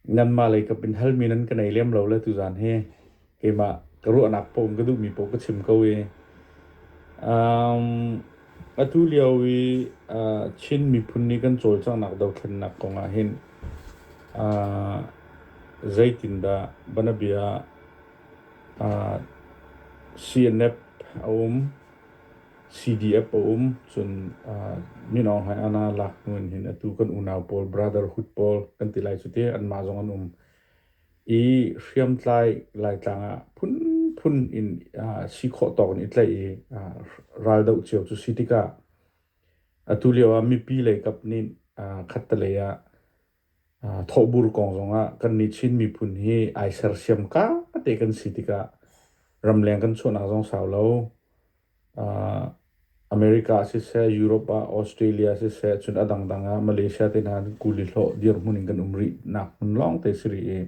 Myanmar lei kap in halmi nan ka nei lem lo le tuzaan hi keimah ka ruahnak paoh in ka duhmi paoh ka chim ko i atu lio i Chin miphun nih kan cawlcanghnak dothlennak kong ahhin zeitindah banabia CNF a um? CDF a um, cun minawng hai ana laknu in hin atu kan unau pawl, brotherhood pawl kan ti lai cu ti anmah zong an um. I hriamtlai laitlang ah phunphun in si khawh tawk in i tlaih i raldoh cio cu si tikah atu lio ah mipi lei kap nih khattelei ah thawhbur kong zongah kannih Chin miphun hi ai sersiam ka te kan si tikah ramleng kan chuahnak zong sau lo. America ah siseh, Europe ah, Australia ah siseh, cun a dangdang ah Malaysia te hna kuli hlawh dirhmun in kan um rih nak hmun lawng te si rih i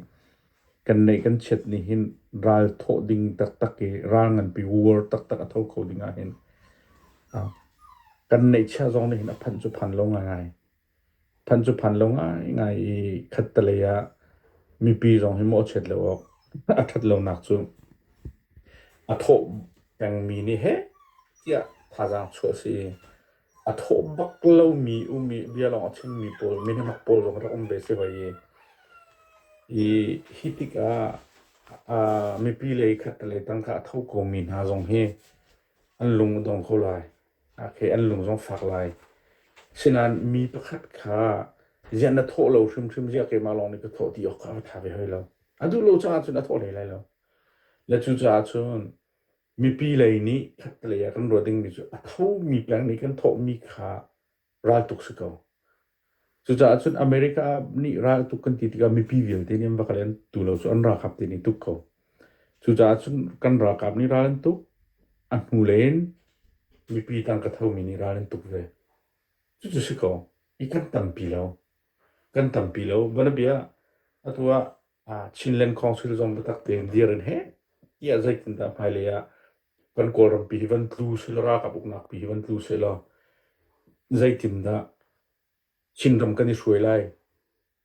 kan neih kan chiat nih hin ral thawh ding taktak i ral nganpi war taktak a tho kho ding ah hin kan neih chiah zong nih hin a phanh cu phan lo ngai ngai. Phan cu phan lo ngaingai i khattelei ah mipi zong hi mawhchiat lo awk a ṭhat lonak cu a thawh pengmi nih heh tiah thazaang chuah a si i a thawh bak lomi um i bia lawng a chimmi pawl minemak pawl zong rak um ve a si hoi i i hi tikah mipi le khattelei tangka a tho komi hna zong hi an lung a dong kho lai. A ke an lung zong fak lai. Asinain mi pakhat kha ziah na thawh lo hrimhrim ziah keimah lawng nih ka thawh ti awk kha a tha ve hoi lo. A duh lo caah cun a thawh hlei lai lo. Le cucaah cun mipi lei nih khattelei ah kan ruat dingmi cu a thomi peng nih kan thawhmi kha ral tuk si ko. Cucaah cun America ah nih ral tuk kan ti tikah mipi vialte nih an va kal i an tu lo cu an ralkap te nih tuk ko. Cucaah cun kan ralkap nih ral an tuk. A hnu len mipi tang ka thomi nih ral an tuk ve. Cucu si ko. I kan tampi lo. Kan tampi lo. Vanabia atu ah Chinland Council zong biatak tein dir an he. Ia zeitindah hmailei ah kan Kawlram pi hi van tlu sehla, ralkap uknak pi hi van tlu sehla, zeitindah Chinram kan i hruai lai?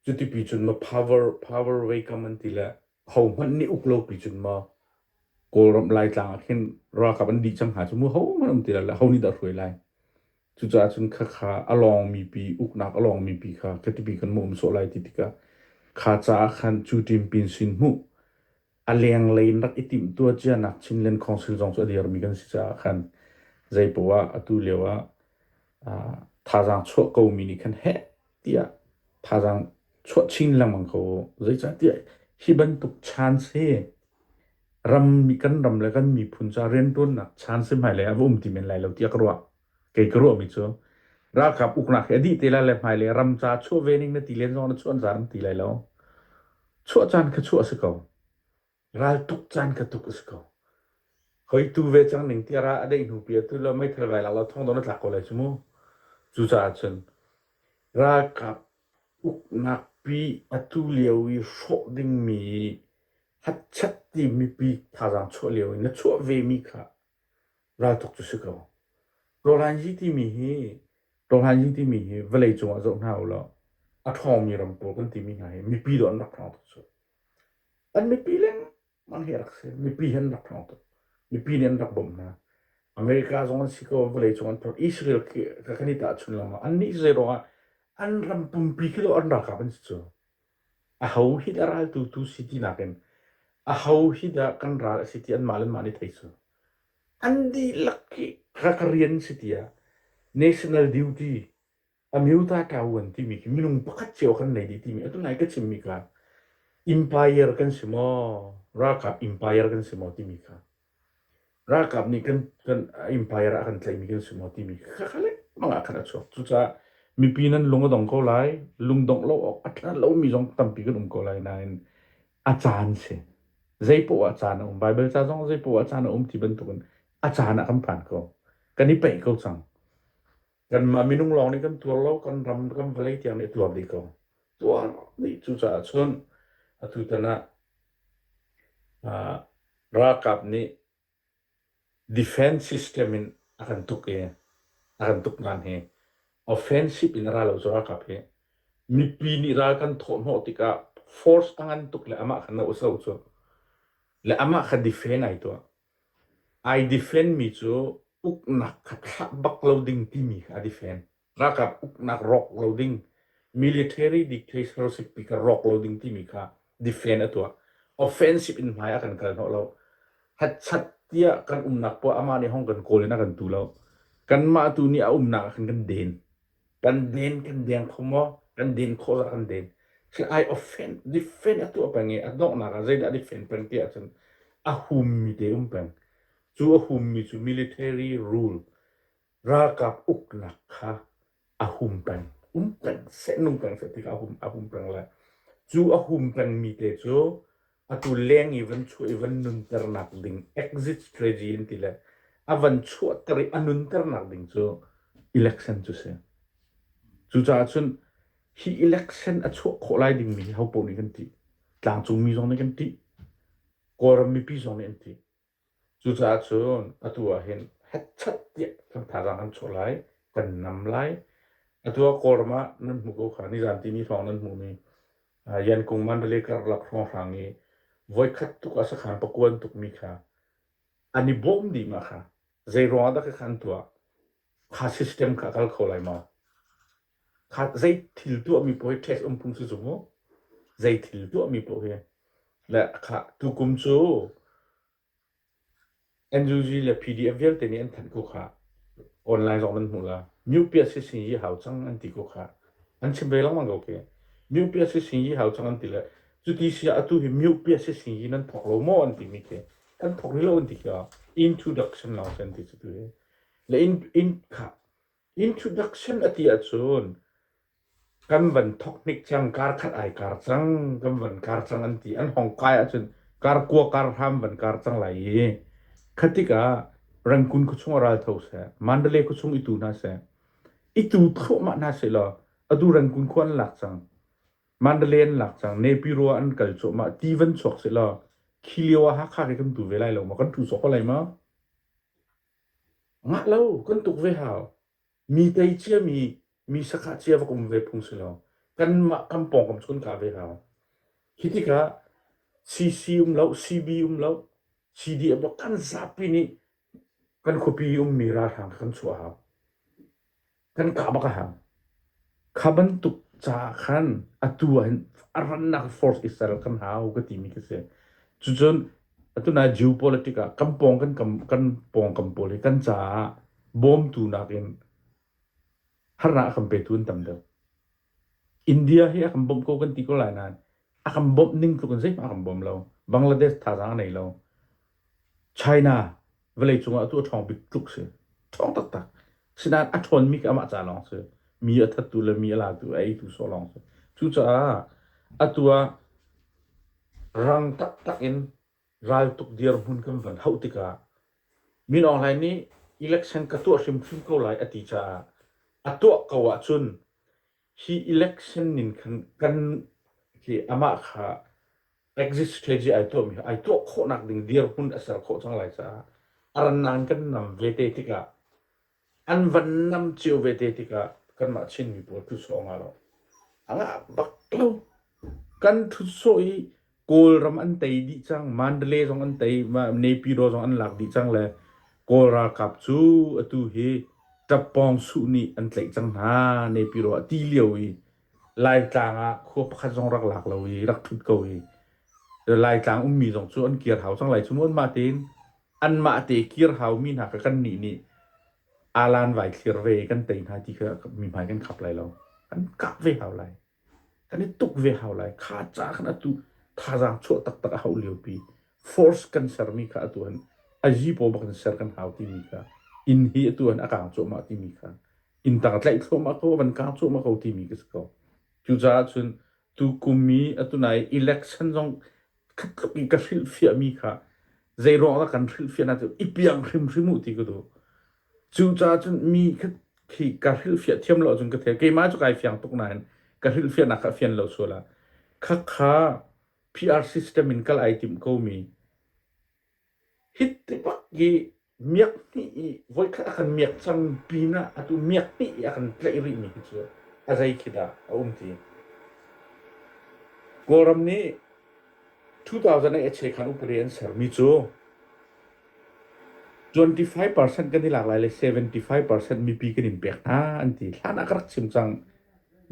Cuti pi cun ma power, power vei kam an ti le hohmanh nih uk lo pi cun ma Kawlram Laitlang ah khin ralkap an dih cang hnga cu mu hohmanh um ti lo le ho nih dah hruai lai? Cucaah cun khakha a lawngmi pi, uknak a lawngmi pi kha khatipi kan mawh um sawh lai ti tikah kha caah khan cu Ṭim Pin sin hmuh a lenglei in rak i timhtuah cia nak Chinland Council zong cu a dirmi kan si caah khan zei poah atu lio ah uh, thazaang chuah komi nih khan heh tiah thazaang chuah chin lengmang ko zeicahtiah hi bantuk chance hi ram kan ram le kan miphun ca riantuannak chance hmailei ah va um ti men lai lo tiah ka ruah kei ka ruahmi cu ralkap uknak hi a dih te lai le hmai le ram ca chuah ve ning na ti len zong na chuah zar na ti lai lo chuah caan kha chuah a si ko ral tuk caan kha tuk a si ko hoi tu ve cang ning tiara a deih hnu pi atu lo meithal vai lak lo thong don a tlak ko lai cu mu cu caah cun ralkap uknak pi atu lio i hrawh dingmi hatchat ti mipi thazaang chuah lio in na chuah ve mi kha Raltuk cu si ko. Rawhlanzi timi hi, rawhlanzi timi hi vawlei cungah zoh hna u law, a ṭhawngmi ram pawl kan timi hna hi mipi dawh an rak ṭhawng tuk cu. An mipi lengmang hi a rak si. Mipi he an rak ṭhawng tuk. Mipi nih an rak bawmh hna. America zong an si ko, vawlei cung an phorh. Israel khi kan i tahchun lengmang. Annih zeiruangah an ram pumpi khi lo an ralkap an si cu. Aho hi dah raltu tu si ti nakin aho hi dah kan ral a si ti anmah le anmah nih thei cu. An dihlak hi ka ka rian si tiah national duty amyota ṭaoan timi khi minung pakhat cio kan nei dih timi atu lai ka chimmi kha empire kan si maw, ralkap empire kan si maw timi kha Ralkap nih Empire ah a kan tlaihmi kan si maw timi khakha lengmang ah khan a chuak. Cucaah mipi nan lung a dong ko lai. Lungdongh lo awk a tla lomi zong tampi kan um ko lai nain a caan si. Zeipoah ah caan a um. Baibal ca zong zeipoah ah caan a um ti bantukin a caan ah kan phan ko. Kan i paih ko cang. Kanmah minung lawng nih kan tuar lo, kan ram kan vawlei tiang nih a tuar dih ko. Tuar dih cucaah cun atutan ah uh, ralkap nih defense system in a kan tuk i a kan tuk ngan hi offensive in a ra lo cu ralkap hi mipi nih ral kan thawhhnawh tikah force a ngan tuk le amah kha no a so cu le amah kha defend ai tuah Ai defen mi cu uknak kha thlah bak lo ding timi kha a defen. Ralkap uknak rawk lo ding, military dictatorship ti kha rawk lo ding timi kha defen a tuah. Offensive in hmai ah kan kal hnawh lo. Hatchat tiah kan umnak poah amah nih hong kan kawl in a kan tu lo. Kanmah tu nih a umnak ah khan kan den. kan den kan deng kho maw kan den khawh zah kan den si ai offend defend a tuah peng i a donghnak ah zeidah defend peng ti ahcun a hummi te um peng cu a hummi cu military rule ralkap uknak kha a hum peng um peng seh nung peng seh tikah a hum a hum peng lai cu a hum pengmi te cu Atu leng i van chuah i van nunternak ding exit strategy in ti le a van chuahter i a nunternak ding cu election cu si. Cucaah cun hi election a chuah khawh lai dingmi hi hopoh nih kan tih. Tlangcungmi zong nih kan tih. Kawlram mipi zong nih an tih. Cucaah cun atu ah hin hetchat tiah kan thazaang an chuah lai, kan nam lai. Atu ah Kawlram ah nan hmu ko kha nizaan timi hrawng nan hmumi uh, Yankung Mandalay karlak hrawnghrang i voikhat tuk a sakhan pakuan tukmi kha an i bawm dih ma kha zei ruangah dah ka khan tuah? Kha system kha kal kho lai maw? khan zei thil tuahmi paoh hi tax um phung si zung mu zei thil tuahmi paoh hi le kha tukum cu NUG le PDF vialte nih an thanh ku kha online zong nan hmuh la UPSC sin yi hau chang an ti ku kha an chim ve lengmang ko ke UPSC sin yi hau chang an ti le cu ti si atu hi UPSC sin yi nan thok lo mo an ti mi ke an thok ri lo an ti ka introduction long an ti tu hi le in in kha Introduction a ti ahcun kan van thok hnik cang kar khat ai kar cang kan van kar cang an ti an hong kai ahcun kar kua kar hram van kar cang lai i khatik ah rangkun khuachung ah ral tho seh mandale khuachung i tu hna seh i tu thluahmah hna seh law adu rangkun khua an lak cang mandale an lak cang nepiro an kal cuahmah ti van chuak seh law khi lio ah hakha ke kan tu ve lai lo ma kan tu sawk ko lai ma Ngah lo kan tuk ve hau. Mi tei cia mi, mi sakhah cia va kum ve phung si lo. Kanmah kan pawngkam chun ka ve hau. Hi tikah CC um lo, CB um lo, CDF kan zapi nih kan khuapi ummi ralhrang kan chuah hau. kan kah bak a hau. Kha bantuk caah khan atu ah hin a rannak force i ser kan hau ka timi ka si. Cucun atu na geopolitic ah kan pawng kan kam kan pawng kan pawl hi kan caah bawmtu nakin harnak a kan petu an tam deuh. India hi a kan bawmh ko kan ti ko lai nain a kan bawmh ning tluk in zeihmah a kan bawm lo. Bangladesh thazaang a nei lo. China vawleicung ah atu a ṭhawng bik tluk si. Ṭhawng taktak. Asinain a ṭhawnmi khi amah ca lawng si. Mi a thattu le mi a latu, a eitu sawh lawng si. Cucaah atu ah rang taktak in Raltuk dirhmun kan van hauh tikah Min Aung Hlaing nih election ka tuah hrimhrim ko lai a ti caah a tuah ko ahcun hi election nin khan kan hi amah kha exit strategy ai tuahmi ai tuah khawhnak ding dirhmun a ser khawh cang lai caah a rannak in kan nam ve te tikah an van nam cio vete tikah kanmah Chinmi pawl thusawh nga lo. A ngah bak lo. Kan thusawh i Kawlram an tei dih cang. Mandalay zong an tei. Naypyidaw zong an lak dih cang le Kawl ralkap cu atu hi ṭappawng suh nih an tlaih cang hna. Naypyidaw ah ti lio i Laitlang ah khua pakhat zong rak lak lo i rak ṭhut ko i Laitlang ummi zong cu an kir hau cang lai cu mu anmah tein. anmah te kir haumi hna kha kannih nih alan vai thlir ve kan tei hna ti kha mihmai kan khap lai lo kan kap ve hau lai kan i tuk ve hau lai kha ca khan atu thazaang chuah taktak a hauh liopi force kan sermi kha atu han a jipo bak in ser kan hau timi kha inn hi atu han a kang cuahmah timi kha inn tang tlaih thluahmah ko van kang cuahmah ko timi ka si ko cucaah cun tu kum i atu nai election zong khatkhat in ka hrilhfiahmi kha zeiruang dah kan hrilhfiahnak ti i piang hrimhrim u ti ka duh. Cucaah cun mi khat khi ka hrilhfiah thiam lo ahcun ka thei keimah cu kai fiang tuk nain ka hrilhfiahnak kha a fian lo sual ah. Khakha PR system in kal ai tim komi Hitinpak hi miak hnih i voikhat a kan miak cang pinah atu miak hnih i a kan tlaih rihmi hi cu a zei khi dah a um ti. Kawlram nih 2008 khan upadi an sermi cu 25% kan i lak lai le 75% mipi kan in pek hna an ti. Hlan ah ka rak chim cang.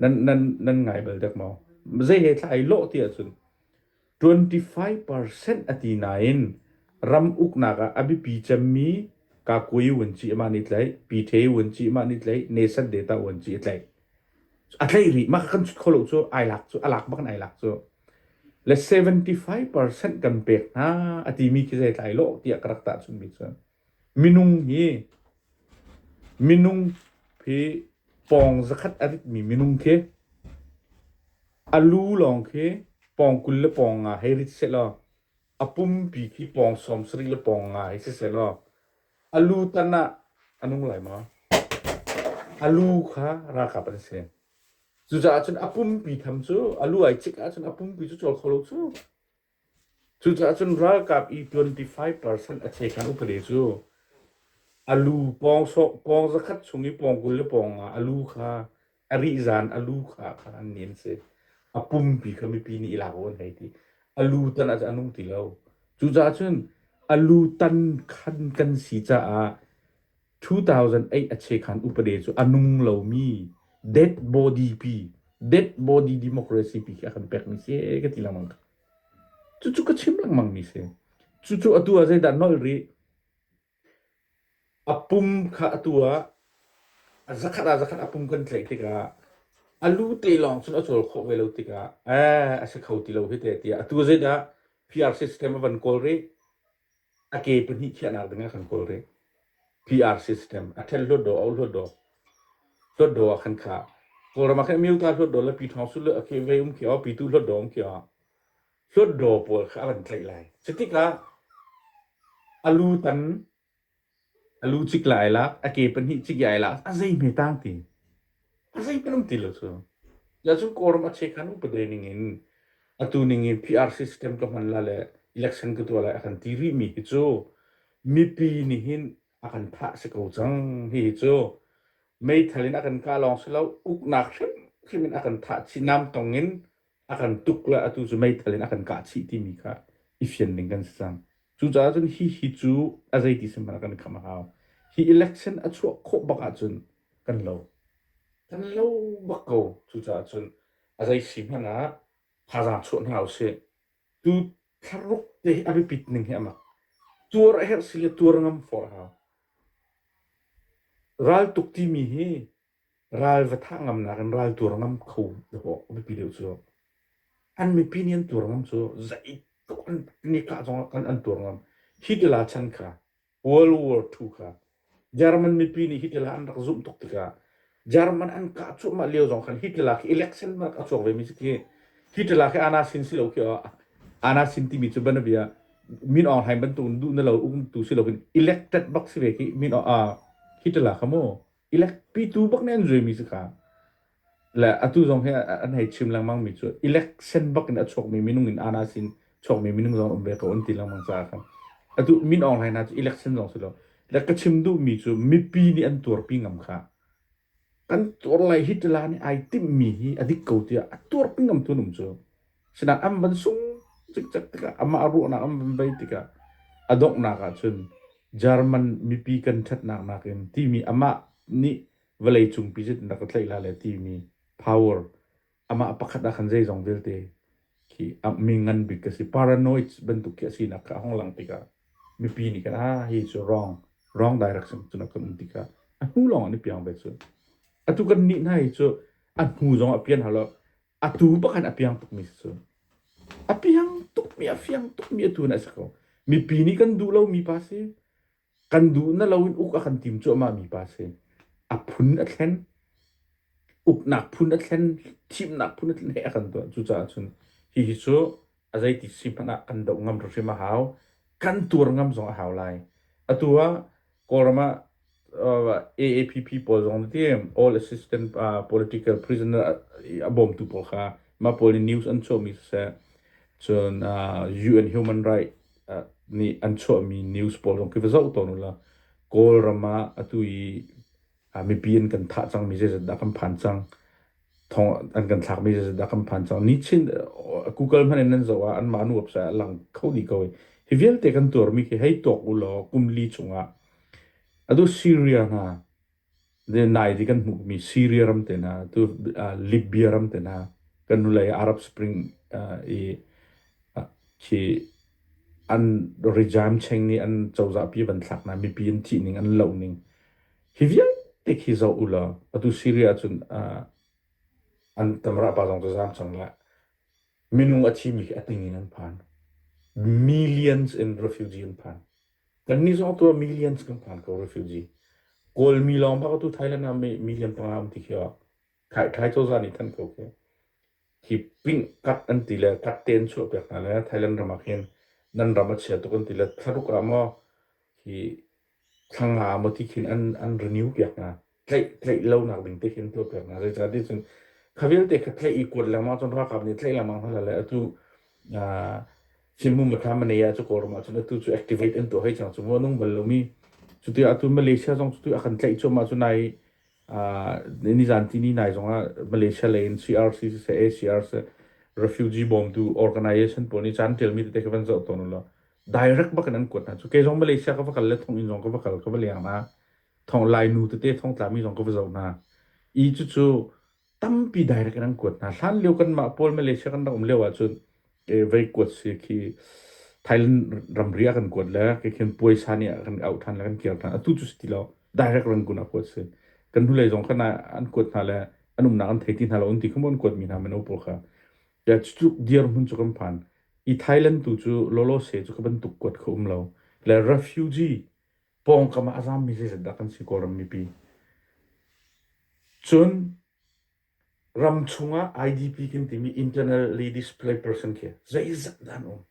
Nan, nan, nan ngai bal dek maw? Zei he thla ai lawh ti ahcun 25 percent a ti nain ram uknak ah a biapi cemmi Kakui Wun Ci mah nih tlaih Pite Wun Ci mah nih tlaih Nelson Data Wun Ci tlaih a tlaih rih mah kan cut kho lo cu ai lak cu a lak bak in ai lak cu le 75 percent kan pek hna a timi khi zeitlai lo tiah ka rak tah chunmi cu Minung hi pawng zakhat a ritmi minung khi a lu lawng khi pawng kul le pawng nga hei rit sehlaw, a pumpi khi pawng sawm sarih le pawng nga hei si sehlaw, a lu tan ah a nung lai maw? A lu kha ralkap an si. Cucaah cun a pumpi tham cu, a lu ai cik ahcun a pumpi cu cawl kho lo cu. Cucaah cun ralkap i twenty five percent a chekan upade cu a lu pawng sawh pawng zakhat chung i pawng kul le pawng nga a lu kha a rih zan a lu kha kha an ni an si. A pumpi kha mipi nih i lak awk an hei ti. A lu tan ah cun a nung ti lo. Cucaah cun a lu tan khan kan si caah 2008 a chekhan upade cu a nung lomi dead body pi dead body democracy pi khi a kan pekmi si ka ti lengmang cucu ka chim lengmang mi si cucu atu ah zeidah nolh rih a pum kha atu ah a zakhat ah zakhat a pum kan tlaih tikah a lu te lawng cun a cawl khawh ve lo tikah eh a si kho ti lo hite tiah atu zeidah PR system a van kawl rih a ke pahnih khiahnak ding a kan kawl rih PR system a then luat do au luat do luat do a kan kha kawlram a khan miu ta luat do la pi thong su le a ke vei um ki o pi tu luat do um ki o luat do pawl kha a kan tlaih lai cutik ah a lu tan A lu cik lai lak, a ke pahnih cik ai lak, a zei hme tang ti. A zei pelum ti lo cu. Ja cu kawram a che khan upade ning in atu ning in PRC system ka hman la le election ka tua lai a kan ti rih mi hi cu mipi nih hin a kan thah si ko cang hi hi cu meithal in a kan kah lawng si lo uknak hrimhrim in a kan thah chin nam tong in a kan tuk le atu cu meithal in a kan kah chih timi kha i fian ning kan si cang. Cucaah cun hi hi cu a zeiti sehmanh ah kan i kham a hau. Hi election a chuah khawh bak ahcun kan lo. Kan lo bak ko. Cucaah cun a zei si hmanh ah thazaang chuah hna usih. Tu thlaruk te hi a biapit ning hi a mak. Tuar a herh si le tuar ngam fawr a hau. Raltuk timi hi Ral va thah ngamnak in ral tuar ngam kho dawh a biapi deuh cu. An mipi nih an tuar ngam cu zeitluk an nikah zong an, an tuar ngam. Hitler chan kha, World War II kha, German mipi nih Hitler an rak zumh tuk tikah, German an kah cuahmah lio zong khan Hitler khi election rak a chuak ve mi si khi, Hitler khi ana sin si lo khi ah, ana sin timi cu banabia Min Aung Hlaing bantuk duh na lo umtu si lo in elected bak si ve khi Min Aung, Hitler kha mu. Elecpitu bak nih an zuimi cu ka le atu zong hi an hei chim lengmang mi cu election bak in a chuakmi minung in ana sin chuakmi minung zong um ve ko an ti lengmang caah khan atu min aung hlai hna cu election zong si lo le ka chim duhmi cu mipi nih an tuarpi ngam kha kan tuar lai hi tila nih ai timhmi hi a dik ko tiah a tuarpi ngamtu um cu Sinak an van sung cikcek tikah amah ruahnak an van bei tikah a donghnak ah cun German mipi kan ṭhatnak nakin timi amah nih vawleicung pi zeitin dah ka tlaih la le timi power amah pakhat ah khan zeizong vialte khi a mi ngan bik ka si paranoid bantuk khi a sinak kha a hung lang tikah mipi nih kan ah hi cu wrong wrong direction cu kan um tikah a hnu lawng an i piang ve cu atu kan nih hna hi cu a hnu zong a pian hau lo Atu bakhan a piang tukmi cu a piang tukmi a fiang tukmi atu na si ko mipi nih kan duh lomi pa si kan duh na lo in uk a kan tim cuahmah mi pa si a phun a thlen uknak phun a thlen thimnak phun a thlen he a kan tuah cucaah cun hihi cu a zeiti si hmanh ah kan doh ngam hrimhrim a hau. Kan tuar ngam zong a hau lai. Atu ah Kawlram ah uh, AAPP pawl zong ti All Assistant uh, Political Prisoner a bawmtu pawl kha ma pawl nih news an chuahmi siseh cun uh, UN Human Right uh, nih an chuahmi news pawl zong ki va zoh tawn ula Kawlram ah atu i mipi an kan thah cang mi zeizat dah kan phan cang thong an kan thlak mi zeizat dah kan phan cang ni chin google hman in an zoh ah an mah nu apsa a lang kho ni ko hi vialte kan tuar mi khi hei tuak u law kum li chung ah adu syria hna de nai di kan hmuh mi syria ram te na tu libya ram te na kan nu lei arab spring i khi an rijam cheng ni an chozah pi van thlak na mipi an thi ning an lo ning Hi vialte khi zoh u law atu Syria cun ah an tam rah pa zong cu zaam cang lai. Minung a thimi khi a ting in an phan. Millions in refugee an phan. Kannih zong tu ah millions kan phan ko refugee. Kawlmi lawng bak tu Thailand ah me- million panga um ti khi ah khai Thai cozah nih thanh ko khi hi ping kat an ti le kat tein chuah piak hna le Thailand ram ah khin nan ram a chia tuk an ti le tharuk ah maw hi thla nga maw ti khin an an renew piak hna tlaih tlaih lonak ding te khin tuah piak hna zeicahtiah cun kha vialte kha tlaih i kuat lengmang cun ralkap nih tlaih lengmang hna le atu ah Chinmum Mathlam Manaya cu Kawlram ah cun atu cu activate an tuah hoi cang cu ngo nung bal lomi cuti atu Malaysia zong cuti a kan tlaih cuam ah cun nai ah ni zan ti ni nai zong ah Malaysia lei in CRC se ACR se refugee bawmtu organization pawl nih caan tialmi tete kha van zoh tawn ulo direct bak in an kuat hna cu kei zong Malaysia ka va kal le thong inn zong ka va kal ka va leng hna thong lainu tete thong tlami zong ka va zoh hna i cucu tampi direct in an kuat hna hlan lio kanmah pawl Malaysia kan rak um lio ahcun e, vei kuat si khi Thailand ramri a kan kuat le ke khin puaisa nih a kan auh than le kan kir than atu cu si ti lo direct rangun a kuat si kan hnulei zong kana an kuat hna le an umnak an thei ti hna lo an ti khum an kuat mi hna meno pawl kha Ya cu tluk dirhmun cu kan phan. I Thailand tu cu lolose cu ka bantuk kuat kho um lo. Le refugee pawngkam ah a zaam mi zeizat dah kan si Kawlram mipi. Cun ram chungah IDP kan timi Internal Ladies Play Person khi zeizat dah an um.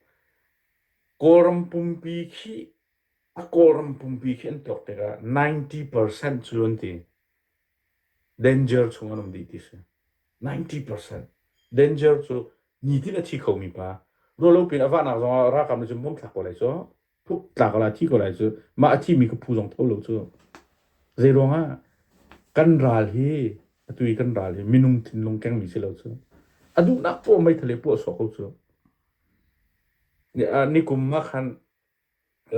Kawlram pumpi khi a Kawlram pumpi khi an tuak tikah 90% cu an ti. Danger chung an um dih ti si. 90%. Danger cu nitin a thi khomi pa, rawlopin a vahnak zongah ralkap nih cun bom thlak ko lai cu, puk tla ko lai, thi ko lai cu, mah a thimi ka phu zong tho lo cu. Zeiruangah kan ral hi, atu i kan ral hi minung thinlung kengmi si lo cu. A duhnak poah meithal i puah sawh ko cu. Nikum ah khan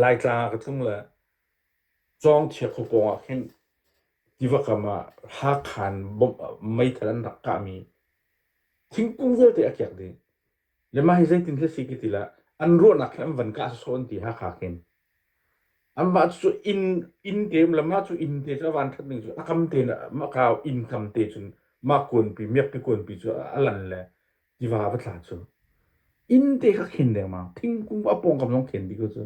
Laitlang ah ka tlung le Cawngthia khua pawng ah khin tiva kam ah Hakhan bawmh ah meithal an rak kahmi thingkung vialte a kek dih. Le mah hi zeitin hi a si ki ti le an ruahnak hi an van kah sawsawh an ti Hakha khin. Anmah cu inn inn te um le mah cu inn te cu a van ṭhat ning cu a kam te in a mah ka inn kam te cun mah kuanpi miakpi kuanpi cu a lan le Tiva va thla cu inn te kha khen dengmang thingkung a pawngkam zong khen bik cu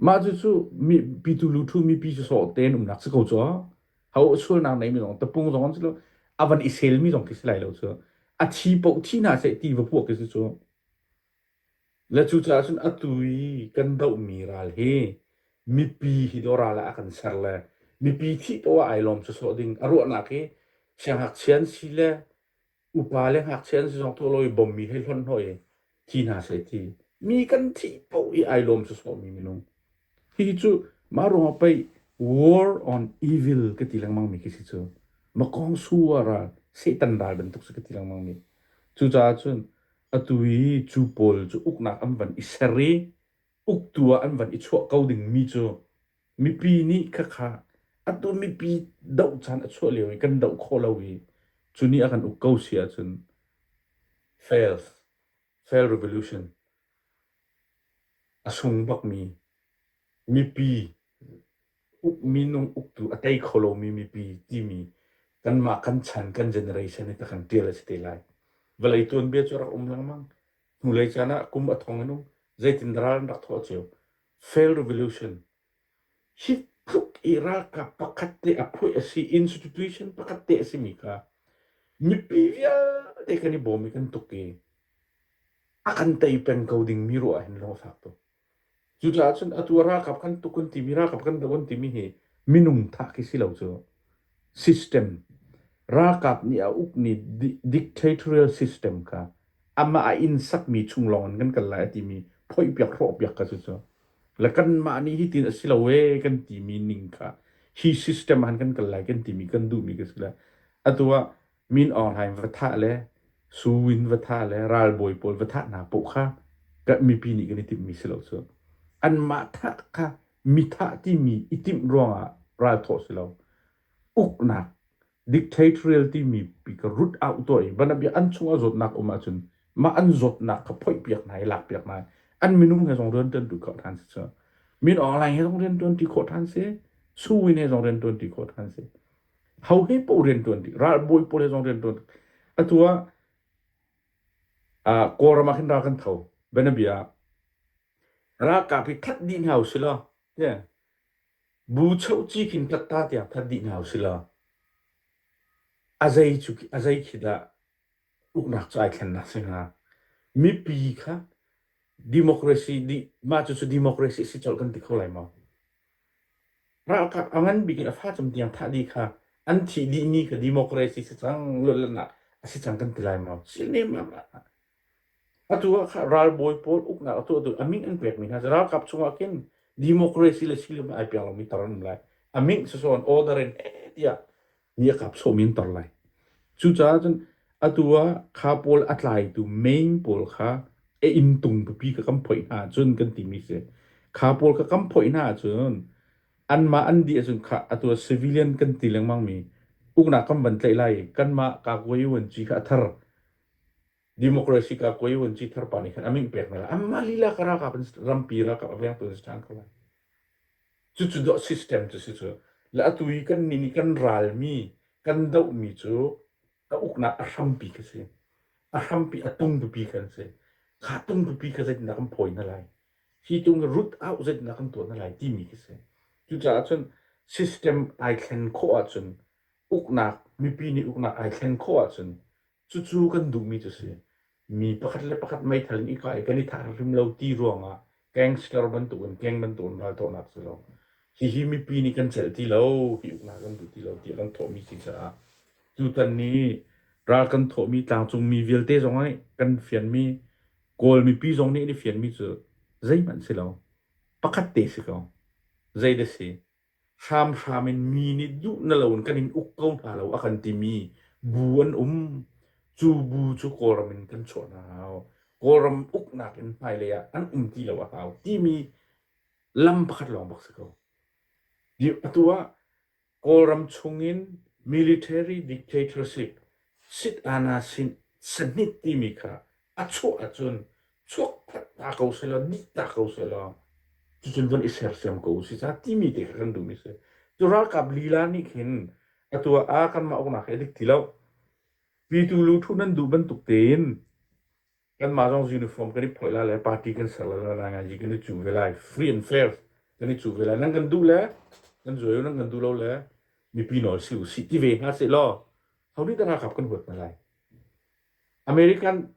mah cu cu mi pitu luthu mipi cu sawh tein umnak si ko cu ho sualnak nei mi zong tapung zong an si lo a van i sel mi zong khi si lai lo cu a thi poh thi hna seh ti va puah khi si cu le cu caah cun atu i kan doh mi ral hi mipi hi do ral ah a kan ser le mipi thih to ah ai lawm cu sawh ding a ruahnak hi sianghngakchia an si le Upa le ngakchia an si zong tuah lo i bawmmi hei hlonh hnaw i thi hna seh ti. Mi kan thih paoh i ai lawm sawsawhmi minung. Hihi cu mah ruangah pei war on evil ka ti lengmangmi khi si cu. Makong suar ah Satan ral bantuk si ka ti lengmangmi. Cucaah cun atu i cu pawl cu uknak an van i ser i uktu ah an van i chuah ko dingmi cu Mipi nih khakha atu mipi doh caan a chuah lio i kan doh khawh lo i cu ni a kan uk ko si ahcun fails, fail revolution. A sung bakmi mipi uk minung uktu a tei kho lomi mipi timi kanmah kan chan kan generation hi takkan tial a si te lai. Vawlei tuanbia cu rak um lengmang. Hnulei caan ah kum a thong in um. Zeitin ral an rak thawh cio. Fail Revolution. Hi tluk i ralkap pakhat te a phuah a si, institution pakhat te a si mi kha mipi vialte kan i bawm i kan tuk i a kan tei peng ko ding mi ruah hin lawng fak tuk. Cucaah cun atu ralkap kan tuk kan timi ralkap kan doh an timi hi minung thah khi si lo cu. System. Ralkap nih a ukmi dictatorial system kha amah a inn sakmi chung lawngin kan kal lai a timi phoihpiak hrawhpiak kha cucu. Le kanmah nih hitin a si lo ee kan timi ning kha hi system ah khan kan kal lai kan timi kan duhmi ka si le atu ah min aung hlaing va thah le Su Win va thah le ralbawi pawl va thah hna poh kha ka mipi nih kan i timhmi si lo cu anmah thah kha mi thah timi i timh ruangah ralthawh si lo uknak dictatorial timi pi ka rut out to i bana bia an chung a zawtnak um ahcun mah an zawtnak kha phoih piak hna i lak piak hna an minung he zong rian tuan tu khawh than si cu min aung hlaing he zong rian tuan ti khawh than si Su Win he zong rian tuan ti khawh than si ho he paoh riantuan dih ralbawi pawl he zong riantuan atu ah uh, kawlram ah khin ra kan tho benabia ralkap hi that dih hna usila yeah bu chho chi khin tlat ta tiang that dih hna usila azai chu azai khi da uknak chu ai thlen na singa mipi kha democracy di ma chu chu democracy si chol kan ti kho lai ma Ralkap a ngan bik in a facam tiang thah dih kha an thih dihmi kha democracy si cang, luatlannak a si cang kan ti lai maw? Chin lengmang ah. Atu ah kha ralbawi pawl uknak a tuahtu a ming an pekmi hna cu ralkap chungah khin democracy le silim ai pek lomi tar an um lai. A ming sawsawn order in heh tiah mi a kap sawm in tor lai. Cucaah cun atu ah kha pawl a tlaitu main pawl kha a inn tung pupi kha kan phoih hna cun kan timi si. Kha pawl kha kan phoih hna cun anmah an dih ahcun kha atu ah civilian kan ti lengmang mi uknak kan van tlaih lai i kanmah Kagwe Uanci kha a thar Democracy ka koi un chi thar pa ni khan aming pek na la amma lila ka raka pan rampi raka avyang tu stan ko chu chu do system chu si chu la atu i kan ni ni kan ral mi kan do mi chu ka ukna a hrampi ka si a hrampi a tung dupi kan si kha tung dupi ka zet na kan phoi na lai hi tung root out zet na kan tuo na lai ti mi ka si chu caah chun system ai thlen kho ah chun uknak mipi ni uknak ai thlen kho ah chun Cucu kan duhmi cu si. Mi pakhat le pakhat meithal in i kah i kan i thah hrim lo ti ruangah gangster bantukin gang bantukin raltuahnak cu lo. Hihi mipi nih kan celh ti lo, hi uknak kan duh ti lo tiah kan thawhmi si caah tutan ni ral kan thawhmi tlangcungmi vialte zong i kan fianmi Kawl mipi zong nih an i fianmi cu zeihmanh si lo. Pakhat te si ko. Zei da si? hramhram in mi nih duh na loin kan in uk ko hna lo a kan timi bu an um. Cu bu cu Kawlram in kan chuah hna hau. Kawlram uknak in hmailei ah an um ti lo a hau timi lam pakhat lawng bak si ko. Di- atu ah Kawlram chungin military dictatorship sit ana sin sanhit timi kha A chuah ahcun chuak phanh ta ko sehlaw, nih ta ko sehlaw, ticun von i sersiam ko si sa timi te kha kan duhmi si. Cu ralkap lila nih khin atu ah kanmah uknak hi a dik ti lo. Pitu luthun nan duh bantuk tein kanmah zong uniform kan i phoih lai le party kan ser lai lai ngai kan i cu ve lai free and fair kan i cu ve lai nan kan duh le kan zuai u nan kan duh lo le mipi nawl si u si ti ve hna seh law honi da ralkap kan huat hna lai American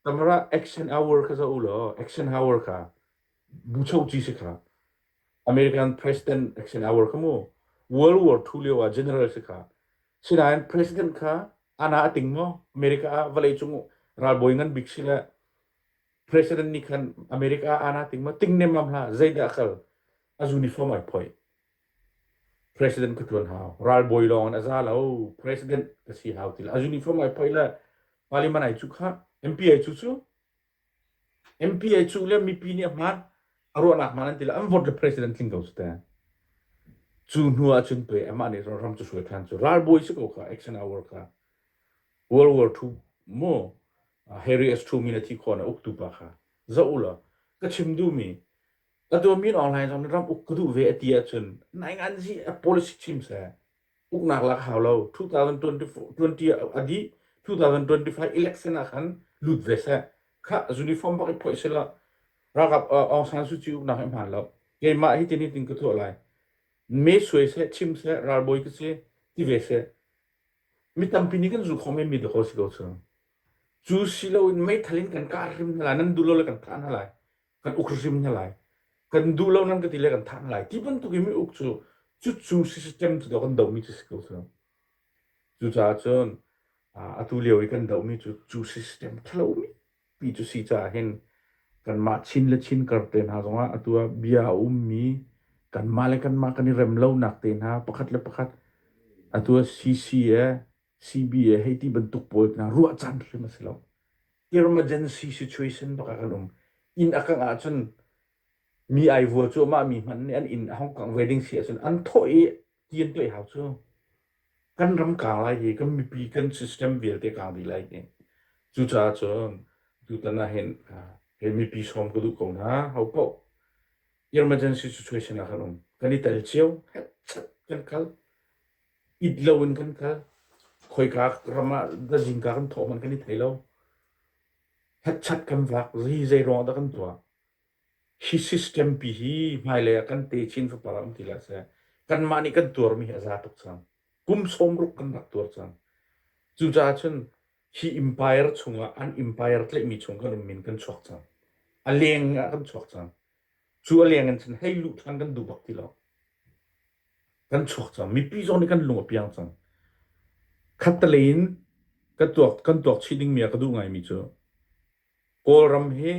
tamara action hour kha zoh u law action hour kha bucho chi si kha American president action hour kha mu World War II lio ah general si kha sinain president kha ana a ting mo America ah vawlei cung ralbawi ngan bik si le president nih khan America ana ting mo ting nem lam hla zeidah kal a uniform ai phoi President ka ṭuan hau. Ralbawi lawng in a za lo. President ka si hau ti lo. A uniform ai phoih le Parliament ai cuh kha. MP ai cuh cu. MP ai cuh le mipi nih a hmaan. A ruahnak hmaan an ti lo. An vote le president tling ko cu ta. Cu hnu ah cun pe amah nih ram cu suai ṭhan cu. Ralbawi si ko kha. Action hour kha. World War II mu Harry S. Truman a thi khawh na uktu pa kha. Zoh u law. Ka chim duhmi ka tuahmi online zong ram uk ka duh ve a ti ahcun naing an hi a policy chim seh uknak lak hau lo 2020 a dih 2025 election ah khan lut ve seh kha uniform bak i phoih sela ragab Aung San Suu Kyi uknak hi hman lo keimah hi tin hi tin ka thuah lai me suai se chim se ralbawi ka se ti ve se mi tampi nih kan zu khom mi da ko si ko chu chu si lo in mei thalin kan ka rim hna lai nan du lo le kan ka hna lai kan uk hrim hna lai kan duh lo nan ka ti le kan thah lai ti bantuk in mi uk cu cucu system cu kan domi cu si ko cu cucaah cun atu lio i kan dohmi cu cu system thalomi pi cu si caah hin kanmah chin le chin kar te hna zongah atu ah bia a ummi kanmah le kanmah kan i rem lonak te hna pakhat le pakhat atu ah CCA CBA hei ti bantuk pawl hna ruah caan hrim a si lo. Emergency situation bak ah kan um. Inn a kangh ahcun mi ai vua cu amah mi hman nih an inn a Hong Kong wedding si ahcun an thawh i tian tuai hau cu kan ram kaang lai i kan mipi kan system vialte kaang dih lai i cucaah cun tutan ah hin he mipi sawm ka duh ko hna hau paoh emergency situation ah kan um kan i tel cio kan kal it loin kan kal. Khoika ram ah zingka kan thawh hmanh kan i thei lo. Hetchat kan vak, zi zeiruang dah kan tuah. Hi system pi hi hmailei ah kan te chin fapar um ti lah seh. Kanmah nih kan tuarmi hi a za tuk cang. Kum sawm ruk kan rak tuar cang. Cucaah cun hi empire chungah an empire tlaihmi chung kan um min kan chuak cang. A leng ah kan chuak cang. Cu a leng in cun hei luh ṭhan kan duh bak ti lo. kan chuak cang mipi zong nih kan lung a piang cang khattelei in kan tuak kan tuak chih ding mi a ka duh ngai mi cu kawlram hi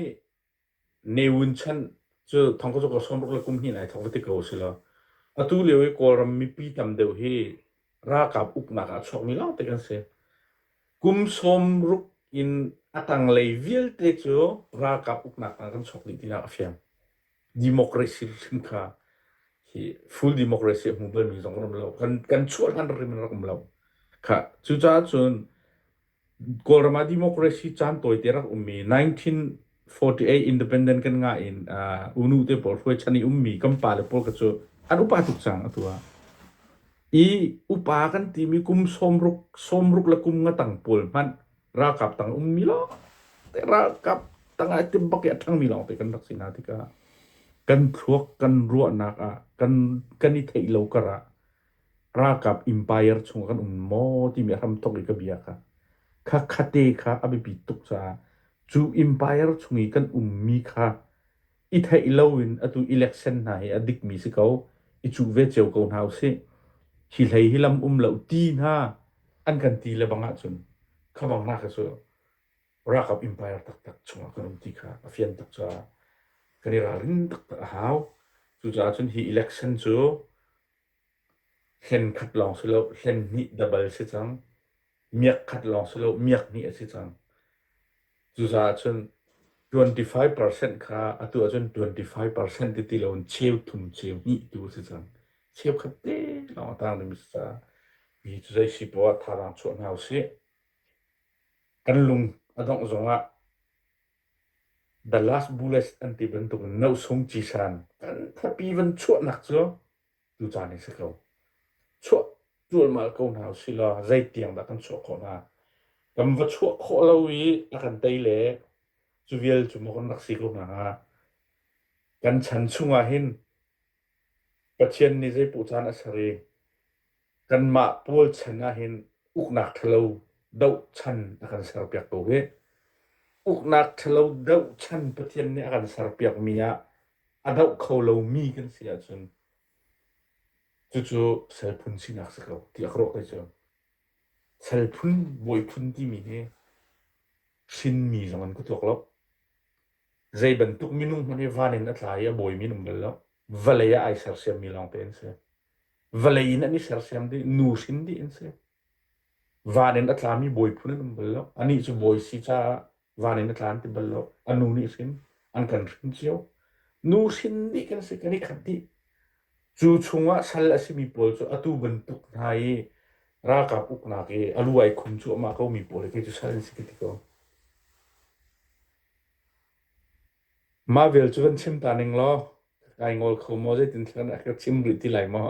ne wun chan cu thong ka ka som ruk le kum hin ai thong ti ko sila atu lio i kawlram mipi tam deuh hi ralkap uknak ah chuak mi lawng te kan si kum som ruk in a tanglei vialte cu ralkap uknak ah kan chuak dih tinak a fiang democracy hrim kha hi full democracy a hmu balmi zong kan um lo kan kan chuah hlan rim in rak um lo kha cucaah cun kawlram ah democracy caan tawite rak ummi 1948 independent kan nga in unu te pawl hruai chan i ummi kan pa le pawl ka cu an upa tuk cang atu ah i upa kan timi kum sawmruk sawmruk le kum ngatang pawl hmanh ralkap tang ummi lawngte ralkap tangah i tim bak i a ṭhangmi lawngte kan rak si hna tikah kan thluak kan ruahnak ah kan kan i theih lo kar ah ralkap empire chung kan um maw timi a hramthok i ka bia kha kha khate kha a biapi tuk caah cu empire chung i kan ummi kha i theih loin atu election hna hi a dikmi si ko i cuh ve cio ko hna usih hi hlei hi lam um lo ti hna an kan ti le bang ahcun khabang na ka cu rakap empire taktak chungah kan um ti kha a fian tak caah kan i ralrin taktak a hau cucaah cun hi election cu Hlen khat lawng si lo, hlen hnih dabal si cang. Miak khat lawng si lo, miak hnih a si cang. Cucaah cun twenty-five percent kha atu ahcun twenty-five percent ti ti loin cheu thum cheu hnih tu a si cang. Cheu khat te lawng a tang ding a si caah mi cu zei si poah thazaang chuah hna usih. Kan lung a dongh zongah the last bullets an ti bantuk in nosung cisan thanthapi van chuahnak cu tu caan hi si ko. Chuah cualmal ko hna usih law zeitiang dah kan chuah khawh hna? Kan va chuah khawh lo i a kan tei le cu vial cu maw kan rak si ko hna hnga? Kan chan chung ah hin Pathian nih zei puh caan a ser i Kanmah pawl chan ahhin uknak ṭhalo doh chan a kan serpiak ko hi. Uknak ṭhalo doh chan Pathian nih a kan serpiakmi ah a doh kho lomi kan si ahcun cucu sal phun sinak si ko tiah ka ruah ko cu. Sal phun, bawi phun timi hi hrinmi zong an ka tuak lo. Zei bantuk minung hmanh hi van in a tla i a bawimi an um bal lo. Vawlei ah ai sersiammi lawngte an si. Vawlei in an i sersiam dih, nu hrin dih an si. Van in a tlami bawi phun an um bal lo. Anih cu bawi si caah van in a tla an ti bal lo. A nu nih hrin an kan hrin cio. Nu hrin dih kan si, kan i khat dih. Cu chungah sal a simi pawl cu atu bantuk hna i ralkap uknak i a lu ai khum cuahmah komi pawl hi cu sal an si ti ko. Mah vial cu van chim ta ning law, ka kai ngol kho maw? Zeitintiah ka chim rih ti lai maw?